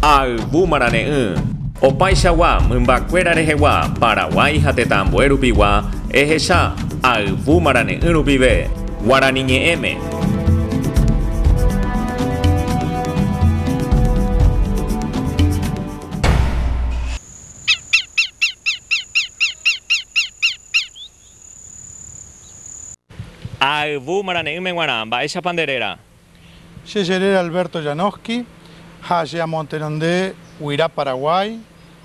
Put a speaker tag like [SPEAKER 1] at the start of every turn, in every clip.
[SPEAKER 1] Ha ayvu marane'ỹ. Opaichagua mymbakuéra rehegua Paraguái ha tetãambue rupigua ehecha ayvu marane'ỹ rupive Guarani ñe'ẽme. Ha ayvu marane'ỹme guarã, mba'éichapa nde réra? Che jerére Alberto Janowski ha che amotenonde Guira Paraguay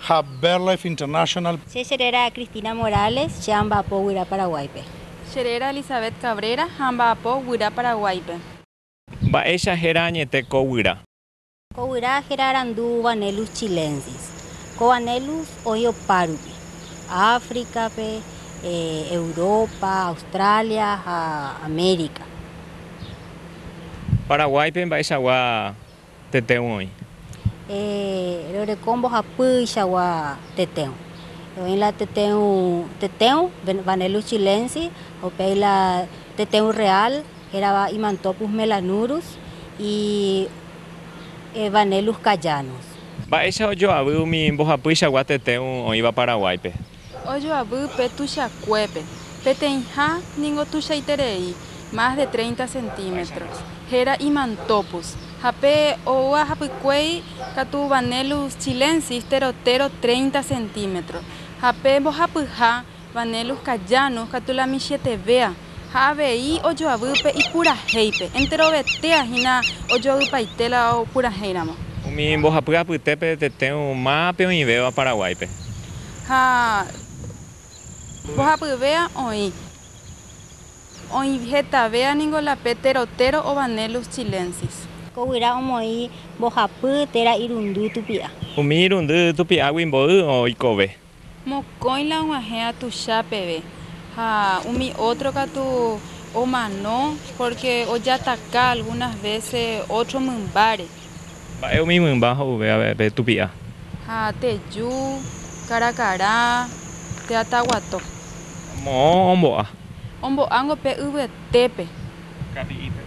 [SPEAKER 1] ha Birdlife International. Che jerére Cristina Morales, che amba'apo Guira Paraguáipe. Che réra Elizabeth Cabrera ha amba'apo Guira Paraguáipe. Mba'éicha héra añete ko Guira. Ko guyra héra arandu Vanellus chilensis. Ko Vanellus oĩ opa rupi, Áfricape, Europa, Australia ha América. Paraguáipe mba'eichagua tetẽgui oĩ? Roreko mbohapýichagua tetẽgui. Oĩ la tetẽgui Vanellus chilensis ha upéi la tetẽgui real. Hérava Imantophus melanurus y Evanelus cayanus. Mba'éicha ojoavy umi mbohapyichagua tetéu oĩva Paraguáipe? Ojoavy pe tuichakuépe, peteĩha ningo tuichaiterei, más de treinta centímetros, héra Imantophus, ha pe oúva hapykuéi katu Vanellus chilensis, tero tero treinta centímetros, ha pe mbohapyha Vane Luz Cayano katu la michĩetevéa ha avei ojoavy upe ipurahéipe, enterovetéa hína ojoavypaite la opurahéiramo. Umi mbohapy apytépe tetẽu mápe oĩvéva Paraguáipe. Ha mbohapyvéa oĩ. Oĩ hetavéa ningo la pe terotéro o Vanellus chilensis. Ko guyra omoĩ mbohapy térã irundy tupi'a. Umi irundy tupi'águi mboy oikove. Mokõi la og̃uahẽ atucha peve, ha umi ótro katu omano pórke ojataka algúnas vése ótro mymbáre. Mba'e umi mymba ho'uve avei pe tupi'a? Ha teju, karakarã, teataguato. Moõ ombo'a. Ombo'ángo pe yvyete. Tépe. Kari'ípe.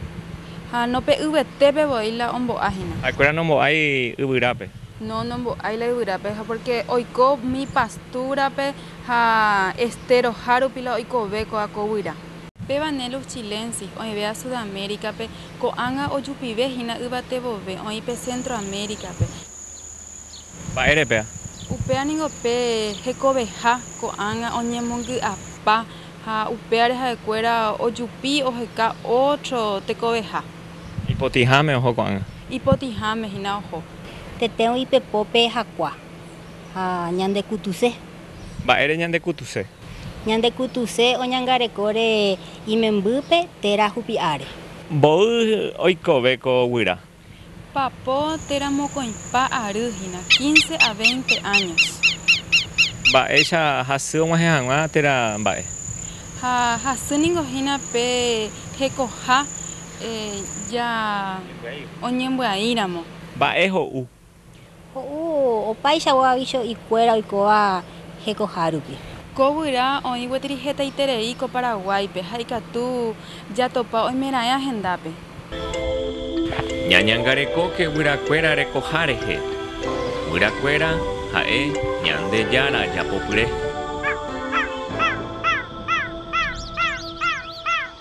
[SPEAKER 1] Ha no pe yvetépe voi la ombo'a hína. Ha'ekuéra nombo'ái yvyrápe. No, nombo'ái la yvyrápe, ha pórke oiko mi pastúrape ha estéro hárupi la oikove kóa ko guyra. Pe Vanellus chilensis oĩvéva Sudamérikape, ko'ág̃a ojupive hína yvatevove, oĩ pe Centroamérikape. Mba'ére péa? Upéva ningo pe hekoveha ko'ág̃a oñemongy'apa Ha upévare ha'ekuéra ojupi oheka ótro tekoveha. Ipotĩháme oho ko'ág̃a. Ipotĩháme hína oho. Tetérõ ipepópe hakua. Ha ñandekutuse. Mba'ére ñandekutuse? Ñandekutuse oñangarekóre imembýpe térã hupi'áre. Mboy oikove ko guyra. Papo térã mokõipa ary hína, quince a veinte años. Mba'éicha hasy og̃uahẽ hag̃ua térã mba'e. Ha hasy ningo hína pe hekoha ja oñembyaíramo. Mba'e ho'u Ho'u opaichagua aviso ikuéra oikóva hekohárupi. Ko guyra oĩ gueteri hetaiterei ko Paraguáipe ha ikatu jatopa oimeraẽ ahendápe. Ñañangarekóke guyrakuéra rekoha rehe. Guyrakuéra ha'e Ñandejára japopyre.